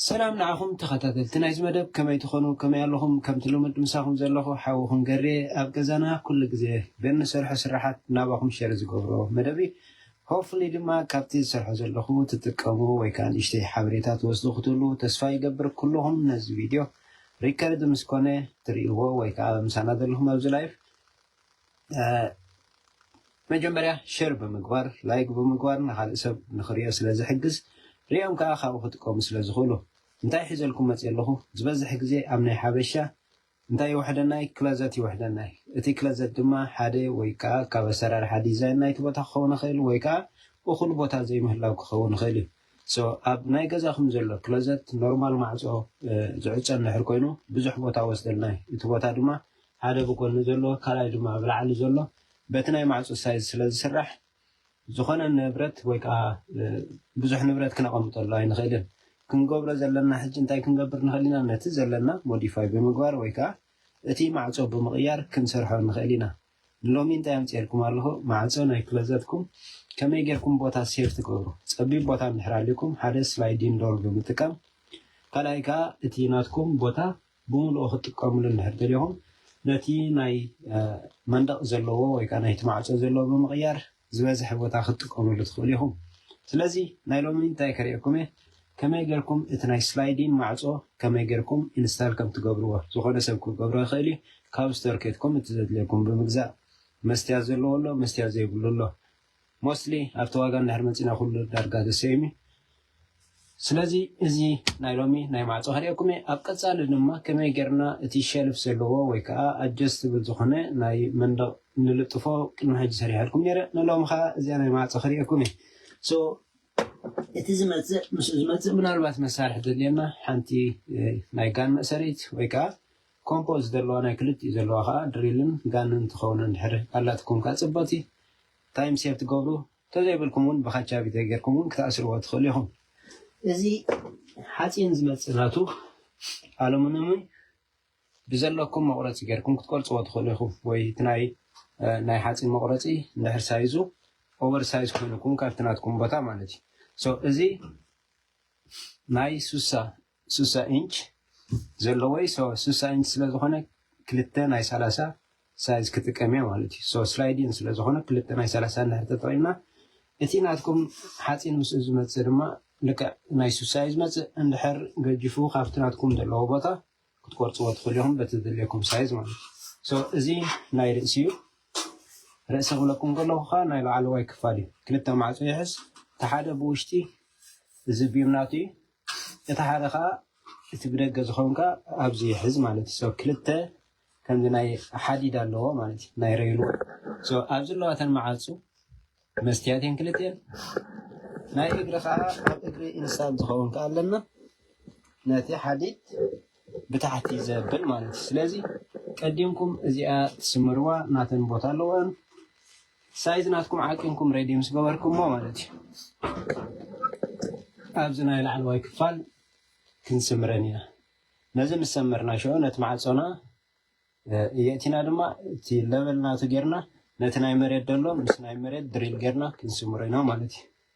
ሰላም ንዓኹም ተኸታተልቲ ናይዚ መደብ ከመይ ትኾኑ ከመይ ኣለኹም ከምቲ ልሙድ ምሳኹም ዘለኹ ሓውኹም ገሬ ኣብ ገዛና ኩሉ ግዜ በንሰርሖ ስራሓት ናባኹም ሸር ዝገብሮ መደብ እዩ ሆፍሊ ድማ ካብቲ ዝሰርሖ ዘለኹ ትጥቀሙ ወይ ከዓ ንእሽተይ ሓበሬታ ትወስዱ ክትህሉ ተስፋ ይገብር ኩልኹም ነዚ ቪድዮ ሪከርድ ምስ ኮነ ትሪእዎ ወይ ከኣ ምሳና ዘለኹም ኣብዚ ላይፍ መጀመርያ ሸር ብምግባር ላይክ ብምግባር ንኻልእ ሰብ ንኽሪኦ ስለ ዝሕግዝ ሪኦም ከኣ ካብኡ ክጥቀሙ ስለ ዝኽእሉ እንታይ ሒዘልኩም መጽየ ኣለኹ ዝበዝሕ ግዜ ኣብ ናይ ሓበሻ እንታይ ይውሕደናይ ክለዘት ይውሕደናይ እቲ ክለዘት ድማ ሓደ ወይ ከኣ ካብ ኣሰራርሓ ዲዛይን ናይቲ ቦታ ክኸውን ይኽእል ወይ ከኣ እኹል ቦታ ዘይምህላው ክኸውን ይኽእል እዩ So ኣብ ናይ ገዛኹም ዘሎ ክሎዘት ኖርማል ማዕጾ ዝዕጾ እንድሕር ኮይኑ ብዙሕ ቦታ ወስደልና እዩ። እቲ ቦታ ድማ ሓደ ብጎኒ ዘሎ ካልኣይ ድማ ብላዕሊ ዘሎ በቲ ናይ ማዕጾ ሳይዝ ስለ ዝስራሕ ዝኾነ ንብረት ወይ ከኣ ብዙሕ ንብረት ክነቐምጠሉ ኣይንኽእልን። ክንገብሮ ዘለና ሕጂ እንታይ ክንገብር ንኽእል ኢና ነቲ ዘለና ሞዲፋይ ብምግባር ወይ ከኣ እቲ ማዕጾ ብምቕያር ክንሰርሖ ንኽእል ኢና። ንሎሚ እንታይ ኣምጺኤልኩም ኣለኹ ማዕጾ ናይ ክሎዘትኩም ከመይ ጌርኩም ቦታ ሴቭ ትገብሩ ጸቢብ ቦታ እንድሕር ኣልዩኩም ሓደ ስላይዲን ዶር ብምጥቃም ካልኣይ ከኣ እቲ ናትኩም ቦታ ብምልኡ ክትጥቀምሉ እንድሕር ደሊኹም ነቲ ናይ መንደቕ ዘለዎ ወይ ከኣ ናይቲ ማዕጾ ዘለዎ ብምቕያር ዝበዝሐ ቦታ ክትጥቀምሉ ትኽእሉ ኢኹም። ስለዚ ናይ ሎሚ እንታይ ከርእየኩም እየ ከመይ ጌርኩም እቲ ናይ ስላይዲን ማዕጾ ከመይ ጌርኩም ኢንስታል ከም ትገብርዎ። ዝኾነ ሰብ ክገብሮ ይኽእል እዩ ካብ ስቶር ኬድኩም እቲ ዘድልየኩም ብምግዛእ። መስትያት ዘለዎ ኣሎ መስትያት ዘይብሉ ኣሎ። ሞስትሊ ኣብቲ ዋጋ እንድሕር መጺና ኩሉ ዳርጋ the same እዩ። ስለዚ እዚ ናይ ሎሚ ናይ ማዕጾ ከርእየኩም እየ። ኣብ ቀጻሊ ድማ ከመይ ጌርና እቲ ሸልፍ ዘለዎ ወይ ከኣ ኣጀስትብል ዝኾነ ናይ መንደቕ ንልጥፎ ቅድሚ ሕጂ ሰሪሐልኩም ኔረ። ንሎሚ ከኣ እዚኣ ናይ ማዕጾ ከርእየኩም እየ። So እቲ ዝመጽእ ምስኡ ዝመጽእ ምናልባት መሳርሒ ተድልየና ሓንቲ ናይ ጋን መእሰሪት ወይ ከኣ ኮምፖ ዝደለዋ ናይ ክልቲኡ ዘለዋ ከኣ ድሪልን ጋንን ትኸውን እንድሕር ኣላትኩም ከኣ ጽብቕቲ ታይም ሴቭ ትገብሩ። ተዘይብልኩም ውን ብካቻ ቪድዮ ጌርኩም ውን ክትኣስርዎ ትኽእሉ ኢኹም። እዚ ሓጺን ዝመጽእ ናቱ ኣሉሙንምን ብዘለኩም መቑረጺ ጌርኩም ክትቆርጽዎ ትኽእሉ ኢኹም ወይ እቲ ናይ ናይ ሓጺን መቑረጺ እንድሕር ሳይዙ ኦቨር ሳይዝ ኮይኑኩም ካብቲ ናትኩም ቦታ ማለት እዩ። ሶ እዚ ናይ ሱሳ ስሳ ኢንች ዘለዎ እዩ ሶ ስሳ ኢንች ስለ ዝኮነ ክልተ ናይ ሰላሳ ሳይዝ ክጥቀም እየ ማለት እዩ ሶ ስላይድ ኢን ስለ ዝኮነ ክልተ ናይ ሰላሳ እንድሕር ተጠቂምና እቲ ናትኩም ሓፂን ምስኡ ዝመፅእ ድማ ልክዕ ናይ ስሳ እዩ ዝመፅእ እንድሕር ገጅፉ ካብቲ ናትኩም ዘለዎ ቦታ ክትቆርፅዎ ትኽእሉ ኢኹም በቲ ዝድልየኩም ሳይዝ ማለት እዩ ሶ እዚ ናይ ርእሲ እዩ ርእሲ ክብለኩም ከለኹ ከዓ ናይ ላዕለዋይ ክፋል እዩ ክልተ ማዕፆ ይሕዝ እቲ ሓደ ብውሽጢ እዚ ቢም ናቱ እዩ እቲ ሓደ ከኣ እቲ ብደገ ዝኮንካ ኣብዚ ይሕዝ ማለት እዩ ክልተ ከምዚ ናይ ሓዲድ ኣለዎ ማለት እዩ ናይ ረይልወ ኣብዚ ኣለዋ እተን መዓፁ መስትያት እየን ክልትኤን ናይ እግሪ ከዓ ኣብ እግሪ ኢንሳን ዝኸውን ከዓ ኣለና ነቲ ሓዲድ ብታሕቲ ዘብል ማለት እዩ ስለዚ ቀዲምኩም እዚኣ ትስምርዋ ናተን ቦታ ኣለዎን ሳይዝ ናትኩም ዓቂንኩም ሬዲ ምስ ገበርኩሞ ማለት እዩ ኣብዚ ናይ ላዕለዋይ ክፋል ክንስምረን ኢና ነዚ ምስ ሰመርና ሽዑ ነቲ ማዕጾና የእቲና ድማ እቲ ለበል ናቱ ጌርና ነቲ ናይ መሬት ደሎ ምስ ናይ መሬት ድሪል ጌርና ክንስምሮ ኢና ማለት እዩ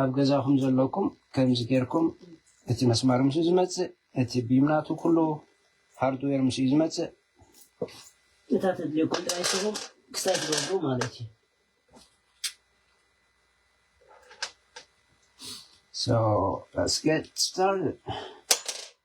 ኣብ ገዛኹም ዘለኩም ከምዚ ጌርኩም እቲ መስማር ምስ ዝመፅእ እቲ ቢም ናቱ ኩሉ ሃርድዌር ምስ እዩ ዝመፅእ እታ ተድልየኩም ጥራይ ስኹም ክሳይ ትገብሩ ማለት እዩ So let's get started.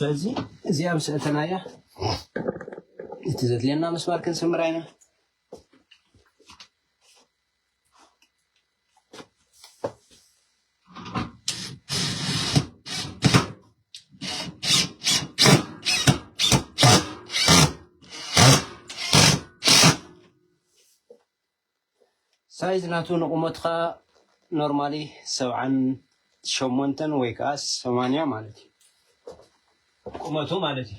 ስለዚ እዚኣ ምስ እተናያ እቲ ዘድልየና ምስማር ክንስምር ኢና ሳይዝ ናቱ ንቑመትኻ ኖርማሊ ሰብዓን ሸሞንተን ወይ ከዓ ሰማንያ ማለት እዩ ቁመቱ ማለት እዩ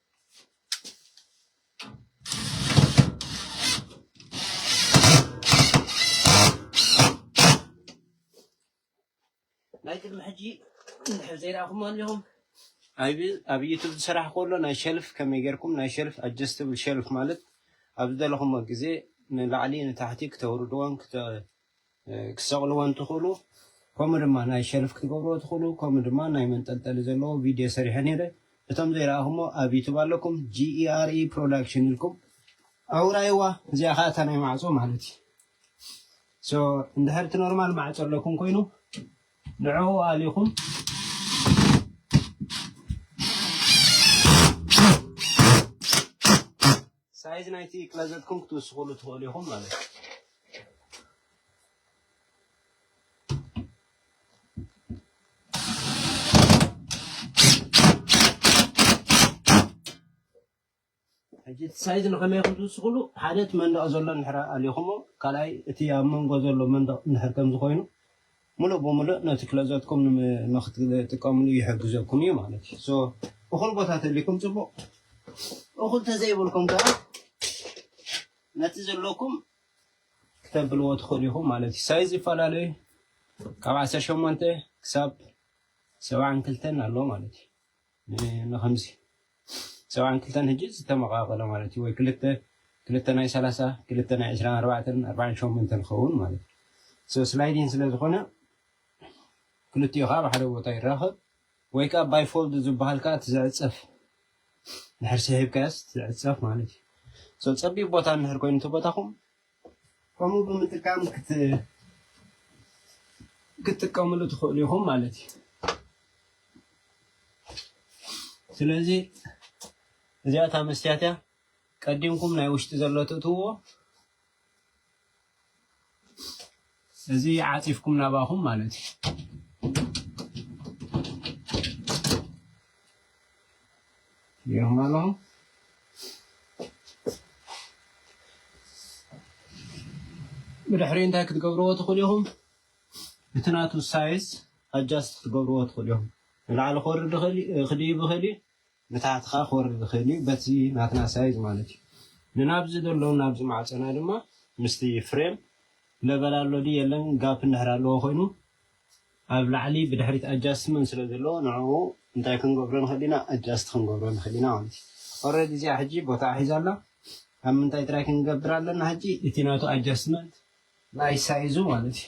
ናይ ቅድሚ ሕጂ እንድሕር ዘይረኣኹሞ ኣለኹም ኣብ ዩቱብ ዝስራሕ ከሎ ናይ ሸልፍ ከመይ ጌርኩም ናይ ሸልፍ ኣጀስትብል ሸልፍ ማለት ኣብ ዝደለኹሞ ግዜ ንላዕሊ ንታሕቲ ክተውርድዎን ክትሰቕልዎን ትኽእሉ ከምኡ ድማ ናይ ሸልፍ ክትገብርዎ ትኽእሉ ከምኡ ድማ ናይ መንጠልጠሊ ዘለዎ ቪድዮ ሰሪሐ ነይረ እቶም ዘይረኣኹሞ ኣብ ዩቱብ ኣለኩም GERE Production ኢልኩም ኣውራይዋ እዚኣ ከዓ እታ ናይ ማዕፆ ማለት እዩ ሶ እንድሕር እቲ ኖርማል ማዕፆ ኣለኩም ኮይኑ ንዕኡ ኣሊኹም ሳይዝ ናይቲ ክለዘትኩም ክትውስኹሉ ትኽእሉ ኢኹም ማለት እዩ። ሕጂ እቲ ሳይዝ ንኸመይ ከም ዝውስኹሉ ሓደ እቲ መንደቕ ዘሎ ንድሕር ኣሊኹሞ ካልኣይ እቲ ኣብ መንጎ ዘሎ መንደቕ ንድሕር ከምዚ ኮይኑ ምሉእ ብምሉእ ነቲ ክሎዘትኩም ንክትጥቀምሉ ይሕግዘኩም እዩ ማለት እዩ። ሶ እኹል ቦታ ተልይኩም ጽቡቕ እኹል ተዘይብልኩም ከኣ ነቲ ዘለኩም ክተብልዎ ትኽእሉ ኢኹም ማለት እዩ። ሳይዝ ይፈላለ እዩ። ካብ ዓሰርተ ሸሞንተ ክሳብ ሰብዓን ክልተን ኣሎ ማለት እዩ። ንኸምዚ ሰብዓን ክልተን ህጂ ዝተመቓቐለ ማለት እዩ ወይ ክልተ ክልተ ናይ ሰላሳ ክልተ ናይ ዕስራን ኣርባዕተን ኣርባዓን ሸሞንተን ክኸውን ማለት እዩ ሶ ስላይዲን ስለ ዝኾነ ክልቲኡ ከዓ ኣብ ሓደ ቦታ ይራኸብ ወይ ከዓ ባይ ፎልድ ዝበሃል ከዓ እቲ ዝዕፀፍ ድሕር ስሒብካዮስ ዝዕፀፍ ማለት እዩ ሶ ፀቢብ ቦታ እንድሕር ኮይኑ እቲ ቦታኹም ከምኡ ብምጥቃም ክትጥቀምሉ ትኽእሉ ኢኹም ማለት እዩ። ስለዚ እዚኣ እታ መስትያት እያ። ቀዲምኩም ናይ ውሽጢ ዘሎ ትእትውዎ እዚ ዓጺፍኩም ናባኹም ማለት እዩ። ጌርኩም ኣለኹም ብድሕሪ እንታይ ክትገብርዎ ትኽእሉ ኢኹም? እቲ ናቱ ሳይዝ ኣጃስት ክትገብርዎ ትኽእሉ ኢኹም። ንላዕሊ ክወርድ ክድይብ ይኽእል እዩ፣ ንታሕትኻ ክወርድ ዝኽእል እዩ በቲ ናትና ሳይዝ ማለት እዩ ንናብዚ ዘሎ ናብዚ ማዕጸና ድማ ምስቲ ፍሬም ለበል ኣሎ ድዩ የለን ጋፕ እንድሕር ኣለዎ ኮይኑ ኣብ ላዕሊ ብድሕሪት ኣጃስትመንት ስለ ዘለዎ ንዕኡ እንታይ ክንገብሮ ንኽእል ኢና ኣጃስት ክንገብሮ ንኽእል ኢና ማለት እዩ ኦረዲ እዚኣ ሕጂ ቦታኣ ሒዛ ኣላ ኣብ ምንታይ ጥራይ ክንገብር ኣለና ሕጂ እቲ ናቱ ኣጃስትመንት ናይ ሳይዙ ማለት እዩ።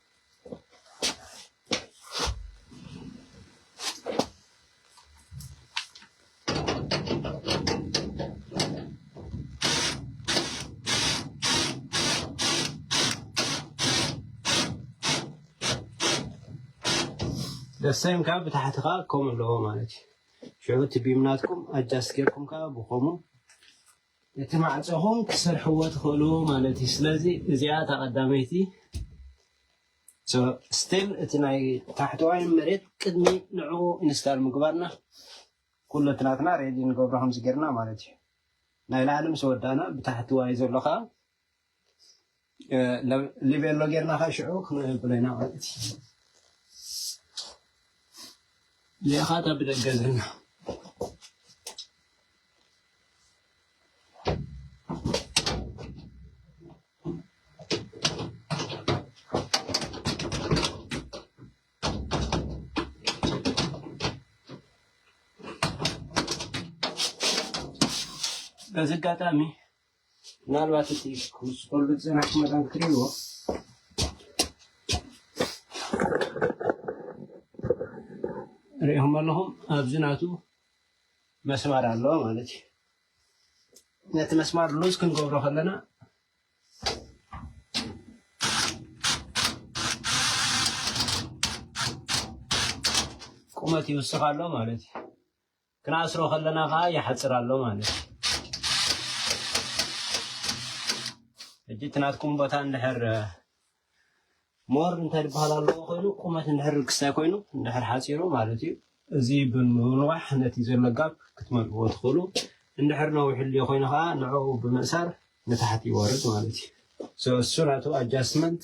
ደሰም ካብ ብታሕቲ ከዓ ከምኡ ኣለዎ ማለት እዩ ሽዑ እቲ ቢም ናትኩም ኣጃስ ጌርኩም ከዓ ብከምኡ እቲ ማዕጾኹም ክትሰርሕዎ ትኽእሉ ማለት እዩ ስለዚ እዚኣ እታ ቀዳመይቲ so still እቲ ናይ ታሕተዋይ መሬት ቅድሚ ንዕኡ ኢንስታል ምግባርና ኩሉ እቲ ናትና ሬዲ ንገብሮ ከምዚ ጌርና ማለት እዩ ናይ ላዕሊ ምስ ወዳእና ብታሕቲ ዋይ ዘሎ ከዓ ሊቤሎ ጌርና ከዓ ሽዑ ክንቅልቅሎ ኢና ማለት እዩ ሊኻ እታ ብደገ ዘለና በዚ ኣጋጣሚ ምናልባት እቲ ክውስኸሉ ዝፀናሕ መዳን ክሪእዎ ሪኦም ኣለኹም ኣብዚ ናቱ መስማር ኣለዎ ማለት እዩ ነቲ መስማር ሉዝ ክንገብሮ ከለና ቁመት ይውስኽ ኣሎ ማለት እዩ ክንኣስሮ ከለና ከኣ ይሓጽር ኣሎ ማለት እዩ። ሕጂ እቲ ናትኩም ቦታ እንድሕር ሞር እንታይ ዝበሃል ኣለዎ ኮይኑ ቁመት እንድሕር ርክስታይ ኮይኑ እንድሕር ሓፂሩ ማለት እዩ እዚ ብምንዋሕ ነቲ ዘሎ ጋብ ክትመልእዎ ትኽእሉ እንድሕር ነዊሕሉ ኮይኑ ከዓ ንዕኡ ብምእሳር ንታሕቲ ይወርድ ማለት እዩ እሱ ናቱ ኣጃስትመንት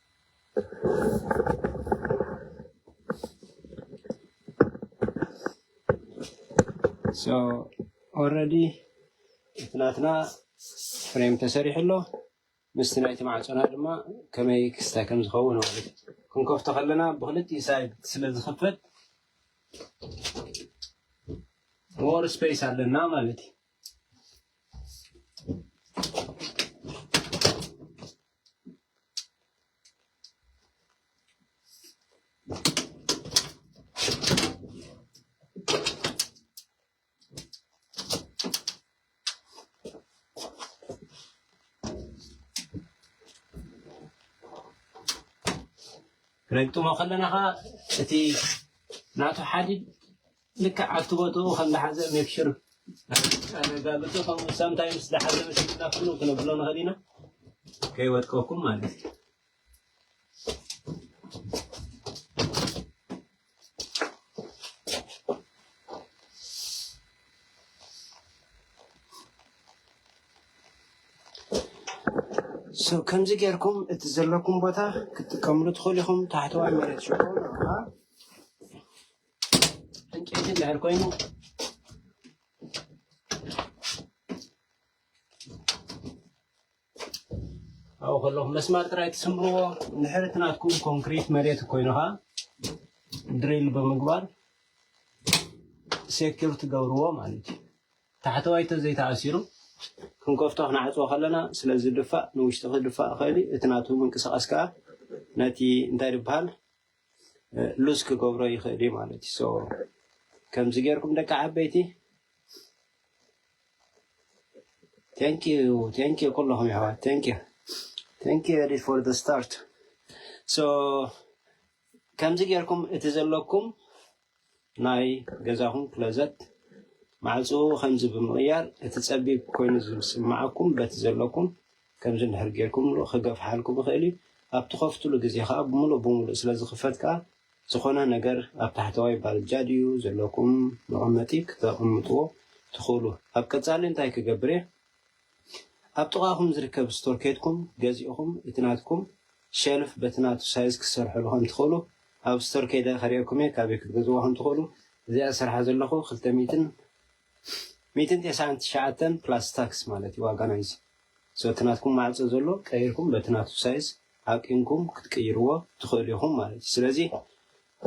ኦረዲ እቲ ናትና ፍሬም ተሰሪሑ ኣሎ ምስቲ ናይቲ ማዕፆና ድማ ከመይ ክስታይ ከም ዝኸውን ማለት ክንከፍቶ ከለና ብክልቲኡ ሳይድ ስለ ዝኽፈት ሞር ስፔስ ኣለና ማለት እዩ ነግጥሞ ከለና ከዓ እቲ ናቱ ሓዲድ ልክዕ ኣብቲ ቦትኡ ከም ዝሓዘ ሜክ ሹር ኣረጋግጹ ከምኡ ሳምታይምስ ዝሓዘ መሲሉና ፍኑ ክነብሎ ንኽእል ኢና ከይወድቀኩም ማለት እዩ ሰው ከምዚ ጌርኩም እቲ ዘለኩም ቦታ ክትጥቀምሉ ትኽእሉ ኢኹም ታሕተዋይ መሬት ሽኮ ዕንጨይቲ እንድሕር ኮይኑ ኣብኡ ከለኹ መስማር ጥራይ ትስምርዎ ንሕርት ናትኩም ኮንክሪት መሬት ኮይኑኻ ድሪል ብምግባር ሴኪር ትገብርዎ ማለት እዩ ታሕተዋይ ተዘይተኣሲሩ ክንከፍቶ ክንዓፅዎ ከለና ስለዝድፋእ ንውሽጢ ክድፋእ ይኽእል እዩ እቲ ናቱ ምንቅስቓስ ከዓ ነቲ እንታይ ዝበሃል ሉዝ ክገብሮ ይኽእል እዩ ማለት እዩ ከምዚ ጌርኩም ደቂ ዓበይቲ ቴንኪዩ ቴንኪዩ ኩለኹም ይሕዋት ቴንኪዩ ቴንኪዩ ኤዲ ፎር ደ ስታርት ሶ ከምዚ ጌርኩም እቲ ዘለኩም ናይ ገዛኹም ክሎዘት ማዕጽኡ ከምዚ ብምቕያር እቲ ጸቢብ ኮይኑ ዝስምዓኩም በቲ ዘለኩም ከምዚ እንድሕር ጌርኩምሉ ክገፍሓልኩም ይኽእል እዩ። ኣብ ትኸፍትሉ ግዜ ከኣ ብምሉእ ብምሉእ ስለ ዝኽፈት ከኣ ዝኾነ ነገር ኣብ ታሕተዋይ ባልጃ ድዩ ዘለኩም መቐመጢ ክተቐምጥዎ ትኽእሉ። ኣብ ቀጻሊ እንታይ ክገብር እየ? ኣብ ጥቓኹም ዝርከብ ስቶር ኬድኩም ገዚእኹም እቲ ናትኩም ሸልፍ በቲ ናቱ ሳይዝ ክትሰርሕሉ ከም ትኽእሉ ኣብ ስቶር ከይደ ከርእየኩም እየ ካበይ ክትገዝእዎ ከም ትኽእሉ እዚኣ ዝሰርሓ ዘለኹ ክልተ ሚእትን ሚእትን ቴስዓን ትሽዓተን ፕላስ ታክስ ማለት እዩ ዋጋ ናይዚ ሶ እቲ ናትኩም ማዕጾ ዘሎ ቀይርኩም በቲ ናቱ ሳይዝ ኣቂምኩም ክትቅይርዎ ትኽእሉ ኢኹም ማለት እዩ ስለዚ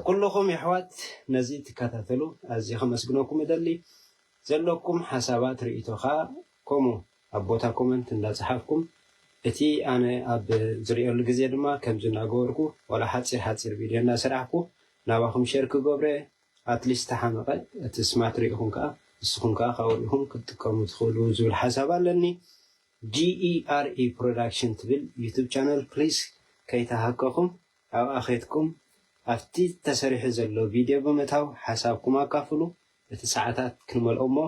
ኩልኹም የሕዋት ነዚ ትከታተሉ ኣዝየ ከመስግነኩም እደሊ ዘለኩም ሓሳባት ሪኢቶ ከኣ ከምኡ ኣብ ቦታ ኮመንት እንዳ ጸሓፍኩም እቲ ኣነ ኣብ ዝሪኤሉ ግዜ ድማ ከምዚ እንዳ ገበርኩ ዋላ ሓጺር ሓጺር ቪድዮ እንዳ ሰራሕኩ ናባኩም ሸር ክገብሮ እየ ኣትሊስት ተሓመቀ እቲ ስማት ሪኢኩም ከኣ ንስኩም ከኣ ካብኡ ሪኢኩም ክትጥቀሙ ትክእሉ ዝብል ሓሳብ ኣለኒ GERE Production ትብል ዩቱብ ቻነል ፕሊስ ከይተሃከኩም ኣብኣ ከይትኩም ኣብቲ ተሰሪሑ ዘሎ ቪድዮ ብምእታው ሓሳብኩም ኣካፍሉ እቲ ሰዓታት ክንመልኦ እሞ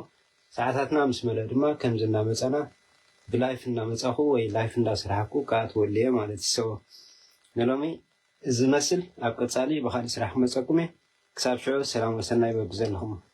ሰዓታትና ምስ መልኣ ድማ ከምዚ እናመጸና ብላይፍ እናመጻኹ ወይ ላይፍ እንዳሰራሕኩ ክኣትወሉ እየ ማለት እዩ ሰወ ንሎሚ እዚ ዝመስል ኣብ ቀጻሊ ብኻሊእ ስራሕ ክመጸኩም እየ ክሳብ ሽዑ ሰላም ወሰናይ በብዘለኹሞ።